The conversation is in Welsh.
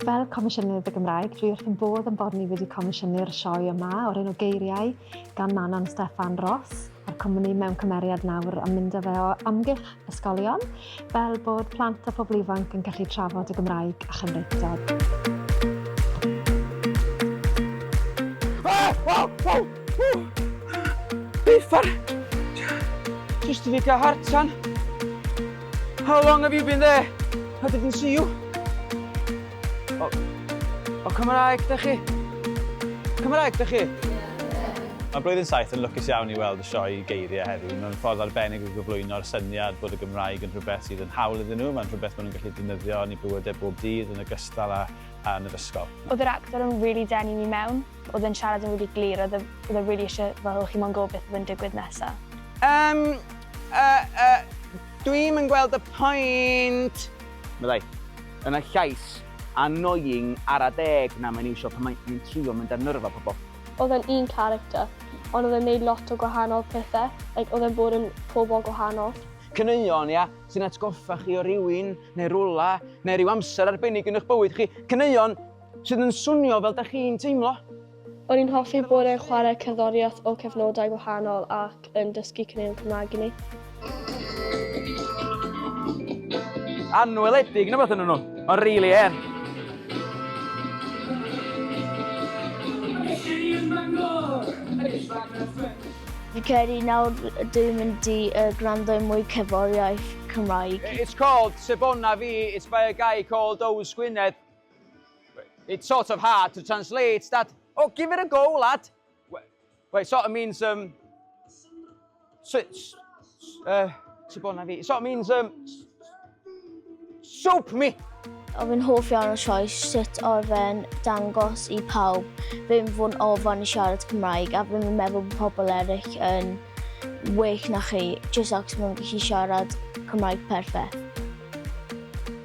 Fel Comisiynydd y Gymraeg, dwi wrth yn bodd yn bod ni wedi comisiynu'r sioe yma o'r enw Geiriau gan Manon Steffan Ros a'r cwmni mewn cymeriad nawr yn mynd â fe o amgylch ysgolion, fel bod plant a phobl ifanc yn gallu trafod y Gymraeg a Chymreictod. Biffar! Just to make a hard time. How long have you been there? I didn't see you. O, o Cymraeg da chi? Cymraeg da chi? Mae Blwyddyn Saith yn lwcus iawn i weld y sioe geiriau heddiw. Mae'n ffordd arbennig o gyflwyno'r syniad bod y Gymraeg yn rhywbeth sydd yn hawl iddyn nhw, mae'n rhywbeth maen nhw'n gallu defnyddio yn eu bywydau bob dydd yn ogystal â, â yn yr ysgol. Oedd yr actor yn rili denu fi mewn, oedd e'n siarad yn rili glir, oedd e, oedd e rili isie fel o chi mo'n gwybod beth oedd yn digwydd nesa. Yym, yy, yy, dwi'm yn gweld y pwynt! Meddai. Yn y llais annoying ara deg na mae'n iwsio pan mae'n yn trio mynd ar nyrfa pobl. Oedd e'n un character, ond oedd e'n neud lot o gwahanol pethe, like oedd e'n bod yn pobl gwahanol. Caneuon, ia, sy'n atgoffa chi o rywun, neu rwla, neu ryw amser arbennig yn eich bywyd chi. Caneuon sydd yn swnio fel 'da chi'n teimlo. O'n i'n hoffi bod yn chwarae cerddoriaeth o cyfnodau gwahanol ac yn dysgu caneuon Cymraeg i ni. Anweledig neu beth yn nhw, ond really hen. Fi credu nawr dwi'n mynd i uh, gwrando i mwy cerddoriaeth Cymraeg. It's called Sebona Fi, it's by a guy called Ows Gwynedd. It's sort of hard to translate, Dad. Oh, give it a go, lad. Wait, sort of means, um... Uh, it sort of means, um... Soap me! Oedd yn hoff iawn o sioes sut oedd e'n dangos i pawb ddim fod yn ofan i siarad Cymraeg a ddim yn meddwl bod pobl eraill yn well na chi, jyst ac mae'n gallu siarad Cymraeg perffaith.